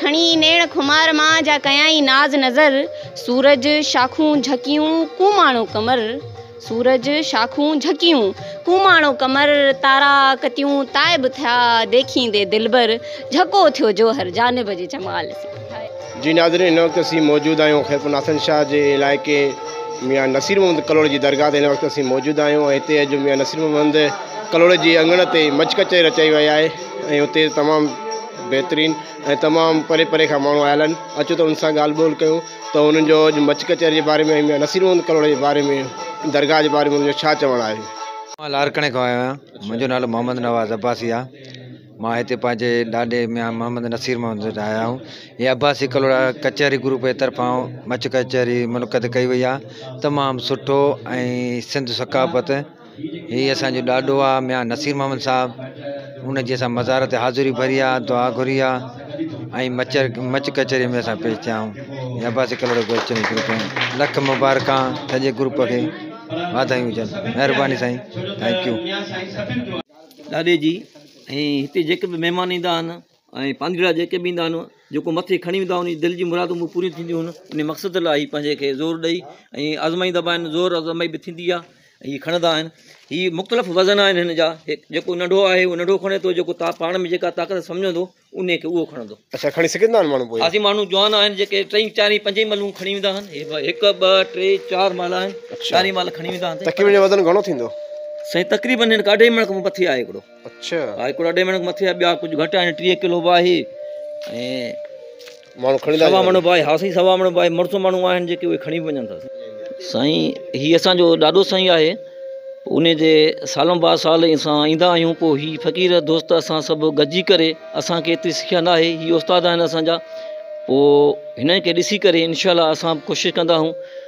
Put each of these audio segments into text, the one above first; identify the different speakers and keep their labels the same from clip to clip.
Speaker 1: کڻي نيڻ خمار مان، جا ڪيائين ناز نظر. سورج شاخون جهڪيون، ڪوماڻو قمر سورج شاخون جهڪيون، ڪوماڻو قمر تارا ڪتيون تائب ٿيا، ديکيندي دلبر جهڪو ٿيو جوهر جانب جي جمال سان. جي ناظرين
Speaker 2: هن وقت اسين موجود آهيون خيرپور ناصرن شاهه جي علائقي ميان نصير محمد ڪلهوڙي جي درگاهه تي هن وقت اسين موجود آهيون ۽ هتي اڄ ميان نصير محمد ڪلهوڙي جي اڱڻ تي مچ ڪچهري رچائي وئي آهي ۽ هتي تمام بهترين ۽ تمام پري پري کان ماڻهو آيل آهن اچو ته انهن سان ڳالهه ٻولهه ڪيون ته انهن جو اڄ مچ ڪچهري جي باري ۾ ميان نصير محمد ڪلهوڙي جي باري ۾ درگاهه جي باري ۾ انهن جو ڇا چوڻ آهي. مان لاڙڪاڻي کان
Speaker 3: آيو آهيان منهنجو نالو محمد نواز عباسي آ مان هتي پنهنجي ڏاڏي ميان محمد نصير محمد وٽ آيا آهيون هي عباسي ڪلهوڙا ڪچهري گروپ جي طرفان مچ ڪچهري منعقد ڪئي وئي آ تمام سٺو ۽ سنڌ ثقافت هي اسان جو ڏاڏو آ ميان نصير محمد صاحب ان جي اسان مزار تي حاضري ڀري آ دعا گهري آ ۽ مچ مچ ڪچهري ۾ اسان پيش ٿيا آهيون عباسي ڪلهوڙو گهر چئني گروپ ۾ لک مبارڪا سڄي گروپ کي واڌايون هجن مهرباني سائين ٿينڪ يو ڏاڏي جي
Speaker 4: ۽ هتي جيڪي به مهمان ايندا آهن ۽ پانڌيئڙا جيڪي به ايندا هن، جيڪو مٿي کڻي ويندا هن جي دل جي مرادون به پوريون ٿينديون هن، انهي مقصد لاء هي پنهنجي کي زور ڏئي ۽ آزمائيندا به آهن، زور آزمائي به ٿيندي آهي ۽ هي کڻندا آهن، هي مختلف وزن آهن هن جا، جيڪو ننڍو آهي اهو ننڍو کڻي ٿو، جيڪو پاڻ ۾ جيڪا طاقت سمجهندو انهي کي اهو کڻندو. اڇا کڻي سگهندا آهن ماڻهو
Speaker 2: پوء؟ هاجي ماڻهو جوان آهن
Speaker 4: جيڪي ٽئين چارين پنجين ملون کڻي ويندا هن، هي هڪ ٻه ٽي چار مال آهن، چارين مال کڻي ويندا هن. تقريبن هن جو وزن گهڻو ٿيندو؟
Speaker 2: سائين تقريبن
Speaker 4: هن کي اڍائي مڻ کان به مٿي آهي هڪڙو. اڇا هاء هڪڙو اڍي
Speaker 2: مڻ مٿي
Speaker 4: آ ٻيا ڪجھ گهٽ آهن ٽيهه ڪلو با آهي ۽ ماڻهو
Speaker 2: کڻي سوا مڻ با آهي ها سائين
Speaker 4: سوا مڻ با آهي مڙس ماڻهو آهن جيڪي اهي کڻي به وڃن ٿا سائين هي اسان جو ڏاڏو سائين آهي انهي جي سالون با سال اسان ايندا آهيون پو هي فقير دوست اسان سڀ گڏجي ڪري اسان کي ايتري سکيا نه آهي هي استاد آهن اسان جا پو هنن کي ڏسي ڪري انشاء الله اسان به ڪوشش ڪندا آهيون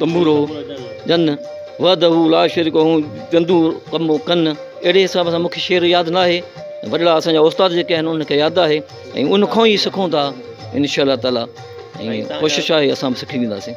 Speaker 4: تنبورو جن وحده لا شريڪ هو جندو قم و ڪن اهڙي حساب سان مونکي شعر ياد نه آهي وڏڙا اسان جا استاد جيڪي آهن انهن کي ياد آهي ۽ ان کان ئي سکون ٿا انشاء الله تعالی ۽ ڪوشش آهي اسان به سکي وينداسين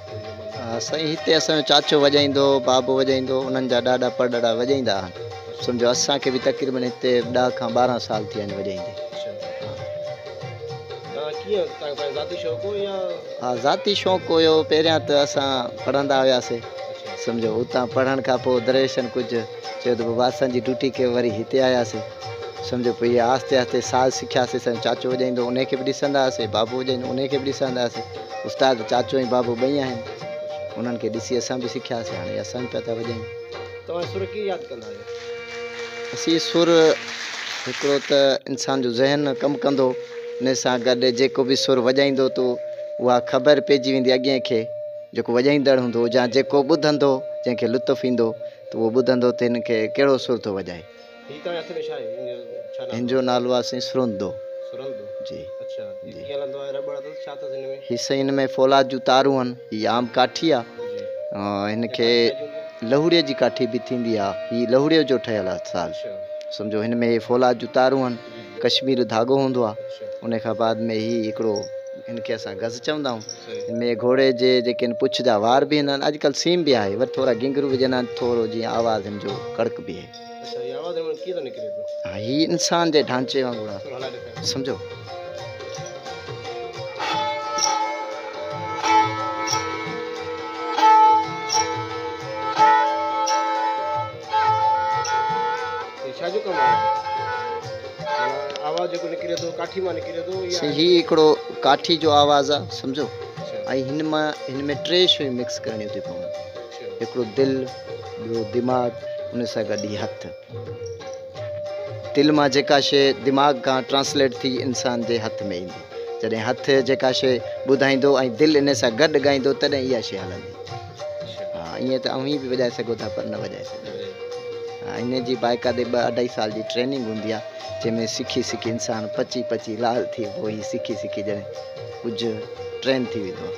Speaker 2: سائين هتي اسان
Speaker 5: جو چاچو وڄائيندو هو بابو وڄائيندو هو انهن جا ڏاڏا پڙڏاڏا وڄائيندا هئا سمجھو اسان کي به تقريبن هتي ڏهه کان ٻارهن سال ٿيا آهن وڄائيندي ها ذاتي شوق هيو پهريان ته اسان پڙهندا هياسين سمجھو اتان پڙهڻ کان پوء دريشن ڪجھ چيو ته بابا اسان جي ڊيوٽي ڪيو وري هتي آياسين سمجهه پئي هي آهستي آهستي ساز سکياسي سائين چاچو وڄائيندو انهي کي به ڏسندا هئاسي بابو وڄائيندو انهي کي به ڏسندا هئاسي استاد چاچو ۽ بابو ٻئي آهن انهن کي ڏسي اسان به سکياسي هاڻي اسان به پيا ٿا وڄايون. توهان سر ڪيئن
Speaker 2: ياد ڪندا آهيو؟ اسين
Speaker 5: سر هڪڙو ته انسان جو ذهن ڪم ڪندو انهي سان گڏ جيڪو به سر وڄائيندو تو اها خبر پئجي ويندي اڳين کي جيڪو وڄائيندڙ هوندو يا جيڪو ٻڌندو جنهن کي لطف ايندو ته اهو ٻڌندو ته هن کي ڪهڙو سر ٿو وڄائي. هن جو نالو آهي سائين سرندو جي هي سائين هن ۾ فولاد جون تارون آهن هي عام ڪاٺي آهي هن کي لهوڙي جي ڪاٺي به ٿيندي آهي هي لهوڙي جو ٺهيل آهي ساز سمجھو هن ۾ فولاد جون تارون آهن ڪشمير ڌاڳو هوندو آهي ان کان بعد ۾ هي هڪڙو هن کي اسان گز چوندا آهيون هن ۾ گھوڙي جي جيڪي آهن پڇ جا وار به هن آهن اڄڪلھ سيم به آهي وري ٿورا گھنگھرو وجھندا آهن ٿورو جيئن آواز هن جو ڪڙڪ بيهي هي انسان جي ڍانچي وانگر آهي سمجهو. هي هڪڙو ڪاٺي جو آواز آهي سمجهو ۽ هن مان هن ۾ ٽي شيون مڪس ڪرڻيون ٿي پون هڪڙو دل ٻيو دماغ ان سان گڏ هي هٿ. دل مان جيڪا شيء دماغ کان ٽرانسليٽ ٿي انسان جي هٿ ۾ ايندي. جڏهن هٿ جيڪا شيء ٻڌائيندو ۽ دل ان سان گڏ ڳائيندو تڏهن اها شيء هلندي. ها ائين ته اوهين به وڄائي سگهو ٿا پر نه وڄائي سگهو ها ان جي باقاعدي ٻه اڍائي سال جي ٽريننگ هوندي آهي جنهن ۾ سکي سکي انسان پچي پچي لال ٿئي پوء هي سکي سکي ڄڻ ڪجهه ٽرين ٿي ويندو آهي.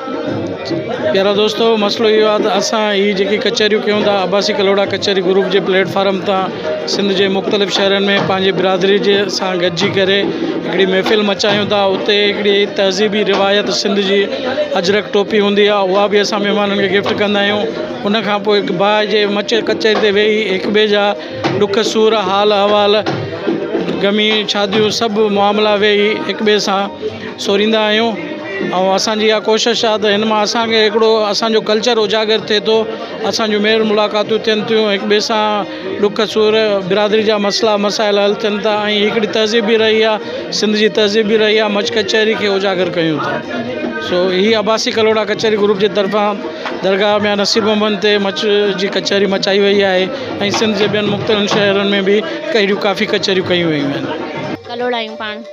Speaker 6: پيارا دوستو مسئلو اهو آهي ته اسان هي جيڪي ڪچهريون ڪيون ٿا عباسي ڪلهوڙا ڪچهري گروپ جي پليٽ فارم تان سنڌ جي مختلف شهرن ۾ پنهنجي برادري جي سان گڏجي ڪري هڪڙي محفل مچايون ٿا اتي هڪڙي تهذيبي روايت سنڌ جي اجرڪ ٽوپي هوندي آهي اها به اسان مهمانن کي گفٽ ڪندا آهيون ان کان پوء هڪ باء جي مچ ڪچهري تي ويهي هڪ ٻئي جا ڏک سور حال احوال غمي شاديون سڀ معاملا ويهي هڪ ٻئي سان سوريندا آهيون ۽ اسان جي اها ڪوشش آهي ته هن مان اسان کي هڪڙو اسان جو ڪلچر اجاگر ٿئي ٿو اسان جون ميل ملاقاتون ٿين ٿيون هڪ ٻئي سان ڏک سور برادري جا مسئلا مسائل حل ٿين ٿا ۽ هڪڙي تهذيب به رهي آهي سنڌ جي تهذيب به رهي آهي مچ ڪچهري کي اجاگر ڪيون ٿا سو هي عباسي ڪلهوڙا ڪچهري گروپ جي طرفان درگاهه ميان نصير محمد تي مچ جي ڪچهري مچائي وئي آهي ۽ سنڌ جي ٻين مختلف شهرن ۾ به اهڙيون ڪافي ڪچهريون ڪيون ويون آهن ڪلهوڙا آهيون پاڻ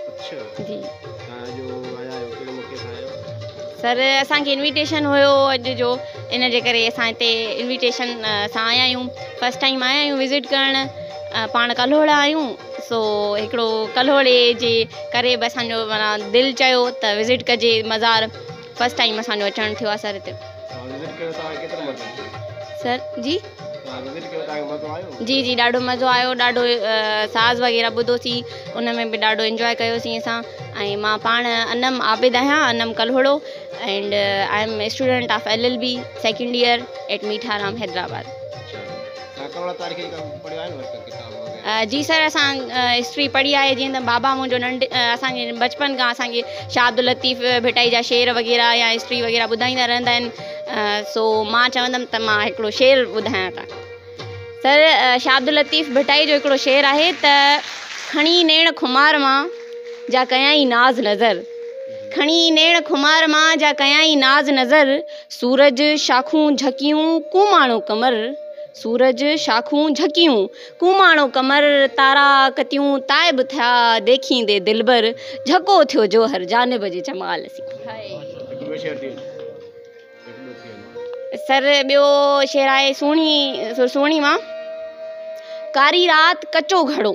Speaker 1: سر اسان کي انويٽيشن هيو اڄ جو ان جي ڪري اسان هتي انويٽيشن سان آيا آهيون فرسٽ ٽائيم آيا آهيون وزٽ ڪرڻ پاڻ ڪلهوڙا آهيون سو هڪڙو ڪلهوڙي جي ڪري به اسانجو مانا دل چيو ته وزٽ ڪجي مزار فرسٽ ٽائيم اسانجو اچڻ ٿيو آهي سر هتي سر جي جي جي ڏاڍو مزو آيو ڏاڍو ساز وغيره ٻڌوسين ان ۾ به ڏاڍو انجوائي ڪيوسين اسان ۽ مان پاڻ انعم عابد آهيان Anam Kalhoro and I am student of L L B second year at Mitha Ram Hyderabad جي سر اسان ہسٹری پڙهي آهي جيئن ته بابا منهنجو ننڍ اسانکي بچپن کان اسانکي شاهه عبداللطيف ڀٽائي جا شعر وغيره يا هسٽري وغيره ٻڌائيندا رهندا آهن سو مان چوندم ته مان هڪڙو شعر ٻڌايان ٿا سر شاهه عبداللطيف ڀٽائي جو هڪڙو شعر آهي ته کڻي نيڻ خمار مان جا ڪيائين ناز نظر کڻي نيڻ خمار مان جا ڪيائين ناز نظر سورج شاخون جهڪيون ڪون ماڻو قمر سورج شاخون جهڪيون ڪوماڻو قمر، تارا، ڪتيون، تائب ٿيا، ديکيندي دلبر، جهڪو ٿيو جوهر، جانب جي جمال سين. سر ٻيو شعر آهي سهڻي سر سهڻي مان، ڪاري رات ڪچو گهڙو.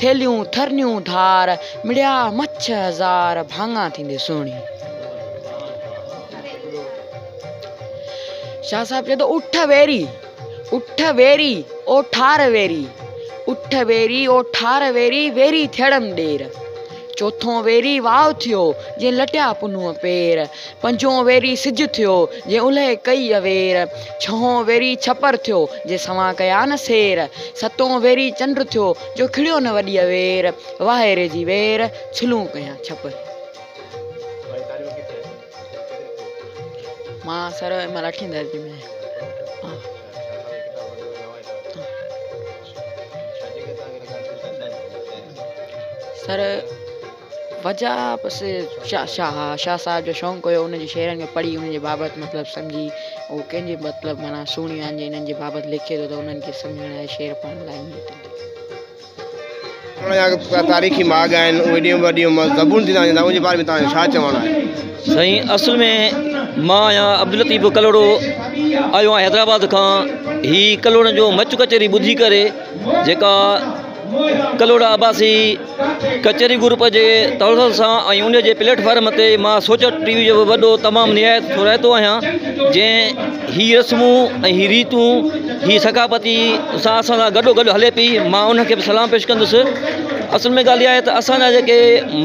Speaker 7: ٿيلهيون ٿرنيون ڌار، مڙيا مڇ هزار، ڀاڱا ٿيندي سهڻي. شاهه صاحب چوي ٿو اٺ ويري اٺ ويري او ٺار ويري اٺ ويري او ٺار ويري ويري ٿيڙم ڏير چوٿون ويري واء ٿيو جي لٽيا پنهون پير پنجون ويري سج ٿيو، جي اولهه ڪئي اوير، ڇهون ويري ڇپر ٿيو، جي سوان ڪيا نه سير، ستون ويري چنڊ ٿيو، جو کڙيو نه وڏي اوير، واهي ري جي وير، ڇلون ڪيا ڇپر. مان سر ان مهل اٺين درجي ۾ آهيان. سر. وجهه بس شاهه شاهه صاحب جو شونق هيو ان جي شعرن کي پڙهي انهن جي بابت مطلب سمجهي هو ڪنهن جي مطلب معنيٰ سهڻيون آهن جي انهن جي بابت لکي ٿو ته انهن کي سمجهڻ لاء شعر پڙهڻ لاء ائين ٿو لڳي. ان جا ڪا تاريخي ماڳ آهن
Speaker 2: اهي ايڏيون وڏيون زبون ٿيندا وڃن ٿا ان جي باري ۾ توهان جو ڇا چوڻ آهي؟ سائين اصل ۾
Speaker 4: مان آهيان عبداللطيف ڪلهوڙو آيو آهيان حيدرآباد کان هي ڪلهوڙن جو مچ ڪچهري ٻڌي ڪري جيڪا ڪلهوڙا عباسي ڪچهري گروپ جي تنظر سان ۽ ان جي پليٽ فارم تي مان سوچ ٽي وي جو وڏو تمام نهايت ٿورائتو آهيان جنهن هي رسمون ۽ هي ريتون هي ثقافتي سان اسان سان گڏو گڏ هلي پئي مان ان کي به سلام پيش ڪندس اصل ۾ ڳالهه اها آهي ته اسان جا جيڪي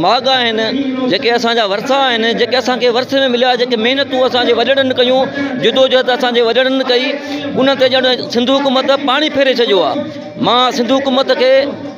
Speaker 4: ماڳ آهن جيڪي اسانجا ورثا آهن جيڪي اسانکي ورثي ۾ مليا جيڪي محنتون اسانجي وڏيرن ڪيون جدوجهد اسانجي وڏيرن ڪئي ان تي ڄڻ سنڌو حڪومت پاڻي ڦيري ڇڏيو آهي مان سنڌو حڪومت کي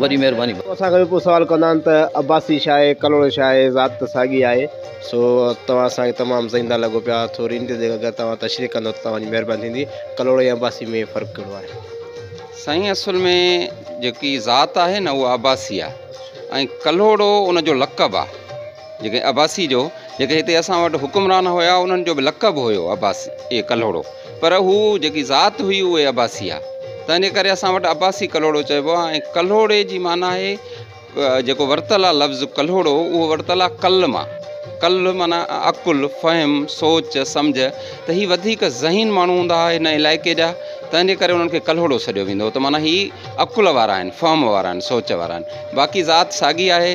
Speaker 4: وڏي مهرباني بابا. اسان کان به پوء سوال ڪندا
Speaker 2: آهن ته عباسي شاهه آهي ڪلهوڙو شاهه آهي ذات ته ساڳي آهي. سو توهان اسان کي تمام زئنده لڳو پيا ٿوري ان تي جيڪر اگر توهان تشريح ڪندو ته توهان جي مهرباني ٿيندي ڪلهوڙو ۽ عباسي ۾ فرق ڪهڙو آهي. سائين
Speaker 8: اصل ۾ جيڪي ذات آهي نه اها عباسي آهي ۽ ڪلهوڙو ان جو لقب آهي. جيڪي عباسي جو جيڪي هتي اسان وٽ حڪمران هيا انهن جو به لقب هيو عباسي اي ڪلهوڙو پر هو جيڪي ذات هئي اهي عباسي آ تنهنجي ڪري اسان وٽ عباسي ڪلهوڙو چئبو آ ۽ ڪلهوڙي جي معنيٰ آهي جيڪو ورتل آ لفظ ڪلهوڙو اهو ورتل آ ڪل مان ڪل معنيٰ عقل فهم سوچ سمجھ ته هي وڌيڪ ذهين ماڻهو هوندا هئا هن علائقي جا تنهنجي ڪري انهن کي ڪلهوڙو سڏيو ويندو هو ته معنيٰ هي عقل وارا آهن فهم وارا آهن سوچ وارا آهن باقي ذات ساڳي آهي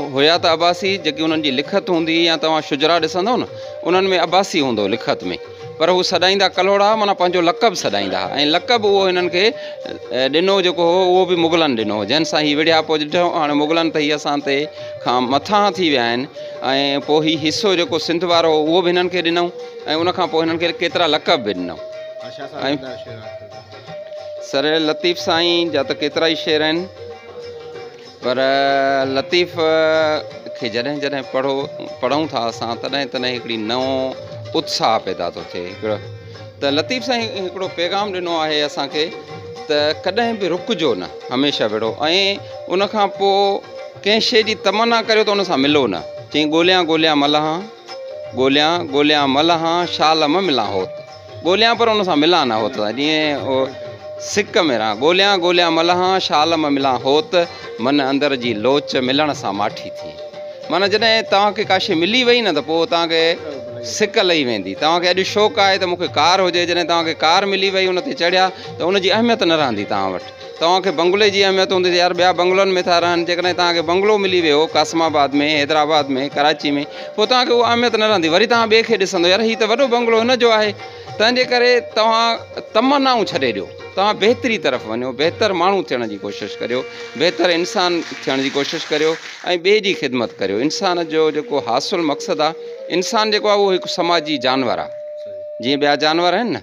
Speaker 8: هيا ته عباسي جيڪي انهن جي لکت هوندي هئي يا توهان شجرا ڏسندؤ نه انهن ۾ عباسي هوندو هو لکت ۾ پر هو سڏائيندا ڪلهوڙا معنيٰ پنهنجو لقب سڏائيندا هئا ۽ لقب اهو هنن کي ڏنو جيڪو هو اهو به مغلن ڏنو هو جنهن سان هي وڙهيا پوء ڏٺو هاڻي مغلن ته هي اسان تي کان مٿاهان ٿي ويا آهن ۽ پوء هي حصو جيڪو سنڌ وارو هو اهو به هنن کي ڏنئون ۽ ان کان پوء هنن کي ڪيترا لقب به ڏنئون سر لطيف سائين جا ته ڪيترا ئي شعر آهن پر لطيف کي جڏهن جڏهن پڙهو پڙهون ٿا اسان تڏهن تڏهن هڪڙي نئون اتساهه پيدا ٿو ٿئي هڪڙو ته لطيف سائين هڪڙو پيغام ڏنو آهي اسان کي ته ڪڏهن به رڪجو نه هميشه وڙهو ۽ ان کان پوء ڪنهن شيء جي تمنا ڪريو ته ان سان ملو نه چئين ڳوليان ڳوليان ملهان ڳوليان ڳوليان ملهان شال م ملان هوت ڳوليان پر ان سان ملان نه هوت جيئن او سڪ ۾ رهان ڳوليان ڳوليان ملهان شال م ملان هوت من اندر جي لوچ ملڻ سان ماٺي ٿي معنيٰ جڏهن توهان کي ڪا شي ملي وئي نه ته پوء توهان کي سڪ لهي ويندي توهان کي اڄ شوق آهي ته مون کي ڪار هجي جڏهن توهان کي ڪار ملي وئي ان تي چڙهيا ته ان جي اهميت نه رهندي توهان وٽ توهان کي بنگلي جي اهميت هوندي ته يار ٻيا بنگلن ۾ ٿا رهن جيڪڏهن توهان کي بنگلو ملي ويو قاسم آباد ۾ حيدرآباد ۾ ڪراچي ۾ پوء توهان کي اها اهميت نه رهندي وري توهان ٻئي کي ڏسندو يار هي ته وڏو بنگلو هن جو آهي تنهنجي ڪري توهان تمنائون ڇڏي ڏيو توهان بهتري طرف وڃو بهتر ماڻهو ٿيڻ جي ڪوشش ڪريو بهتر انسان ٿيڻ جي ڪوشش ڪريو ۽ ٻئي جي خدمت ڪريو انسان جو جيڪو حاصل مقصد آهي انسان جيڪو آهي اهو هڪ سماجي جانور آهي جيئن ٻيا جانور آهن نه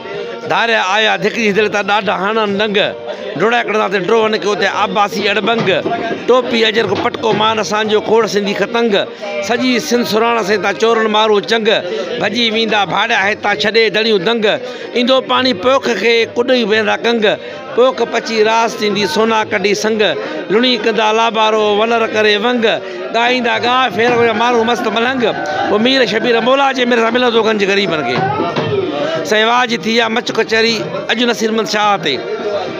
Speaker 9: ڌاريا آيا ڌڪجي دل تان ڏاڍا هڻن ڏنگ ڊوڙائي ڪڍندا تي ڊوهن کي اتي عباسي اڙٻنگ ٽوپي اجهر ڪو پٽڪو مان اسان جو کوڙ سنڌي ختنگ سڄي سنڌ سرهاڻس هي تان چورن مارون چنگ ڀڄي ويندا ڀاڙيا هي تان ڇڏي دڙيون دنگ ايندو پاڻي پوک کي ڪڏهه ويندا ڪنگ. پوک پچي راس ٿيندي سونا ڪڍي سنگ، لڻي ڪندا لابارو ولر ڪري ونگ، ڳائيندا ڳاء ڦيرو يا مارون مست ملنگ، پوء مير شبير مولا جي مير سان ملندو گنج غريبن کي. سائين واهه جي ٿي آ مچ ڪچهري اڄ نصير محمد شاهه تي.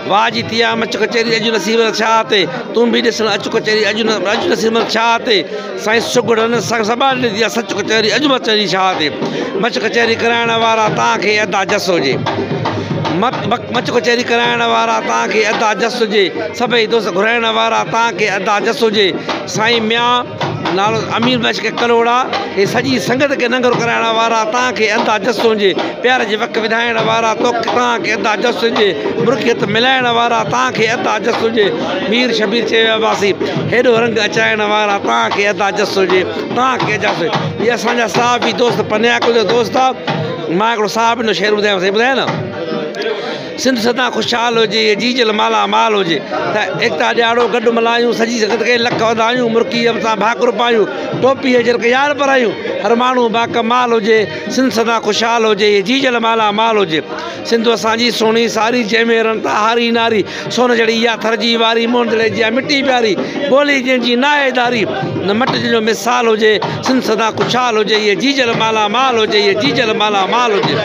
Speaker 9: واهه جي ٿي آ مچ ڪچهري اڄ نصير محمد شاهه تي. تون به ڏسڻ اچ ڪچهري اڄ نصير محمد شاهه تي. سائين سگهڙن سان سٻاڙ ڏني آ سچ ڪچهري اڄ مت چئجي شاهه تي مچ ڪچهري ڪرائڻ وارا تان کي ادا جس هجي مچ ڪچهري ڪرائڻ وارا تان کي ادا جس هجي سڀئي دوست گهرائڻ وارا تان کي ادا جس هجي سائين ميان نالو امير بخش کي ڪلهوڙا هي سڄي سنگت کي ننگر ڪرائڻ وارا تان کي ادا جس هجي پيار جي وک وڌائڻ وارا توکي تان کي ادا جس هجي مرڪيت ملائڻ وارا تان کي ادا جس هجي مير شبير چيو يا عباسي! هيڏو رنگ اچائڻ وارا توهان کي ادا جس هجي، توهان کي اجاس هجي. هي اسان جا صحابي دوست پنهيان ڪل جو دوست آ. مان هڪڙو صحابين جو شعر ٻڌايانو، سائين ٻڌايان نه. سنڌ سدان خوشحال هجي، هي جيجل مالا مال هجي. ته ايڪتا ڏياڙو گڏ ملهايون، سڄي سنگت کي لک واڌايون، مرڪي رب سان ڀاڪر پايون، ٽوپي هجي رک يار پرايون، هر ماڻهو باڪمال هجي، سنڌ سدان خوشحال هجي، هي جيجل مالا مال هجي. سنڌو اسان جي سهڻي ساري، جنهن ۾ رڻ تان هاري ناري، سون جهڙي اها ٿر جي واري، موهن دڙي جيان مٺي پياري، ٻولي جنهن جي ناهي ڌاري، نه مٽ جنهن جو مثال هجي، سنڌ سدا خوشحال هجي، هيء جيجل مالا مال هجي، هيء جيجل مالا مال هجي.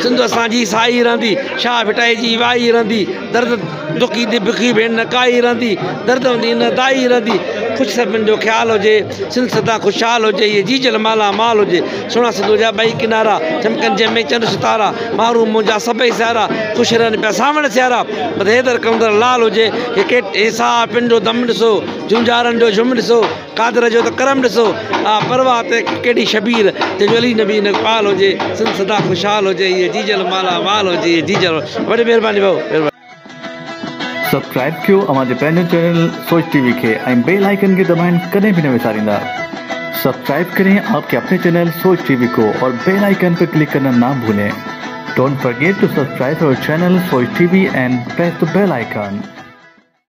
Speaker 9: سنڌو اسان جي سائي رهندي، شاهه ڀٽائي جي وائي رهندي. درد دکي دي بکي ڀيڻ نه ڪائي رھندي درد ھوندي نه دائي رھندي خوش سڀن جو خيال ھجي سنڌ سدا خوشحال ھجي ھيء جيجل مالا مال ھجي سھڻا سنڌوء جا ٻئي ڪنارا چمڪن جنھن ۾ چنڊ ستارا مھروم منھنجا سڀئي سيارا خوش رھن پيا سانوڻ سيارا بس حيدر قلندر لال ھجي ھي ڪيٽ ھي ساھه پن جو دم ڏسو جونجھارن جو جھم ڏسو. قادر جو ته ڪرم ڏسو آ پرواهه تي ڪيڏي شبيهه تنهنجو علي نبي ان اقبال هجي سنڌ سدا خوشحال هجي هيء جيجل مالا مال هجي هيء جيجل وڏي مهرباني ڀائو مهرباني.
Speaker 10: سبسڪرائب ڪيو اوهان جي پنهنجو چينل سوچ ٽي وي کي ۽ بيل آئيڪن کي دٻائڻ ڪڏهن به نه وساريندا سبسڪرائب ڪرين آپ ڪي اپني چينل سوچ ٽي وي ڪو اور بيل آئيڪن پي ڪلڪ ڪرنا نا ڀولين ڊونٽ فرگيٽ ٽو سبسڪرائب اور channel Soch T V and press the bell icon.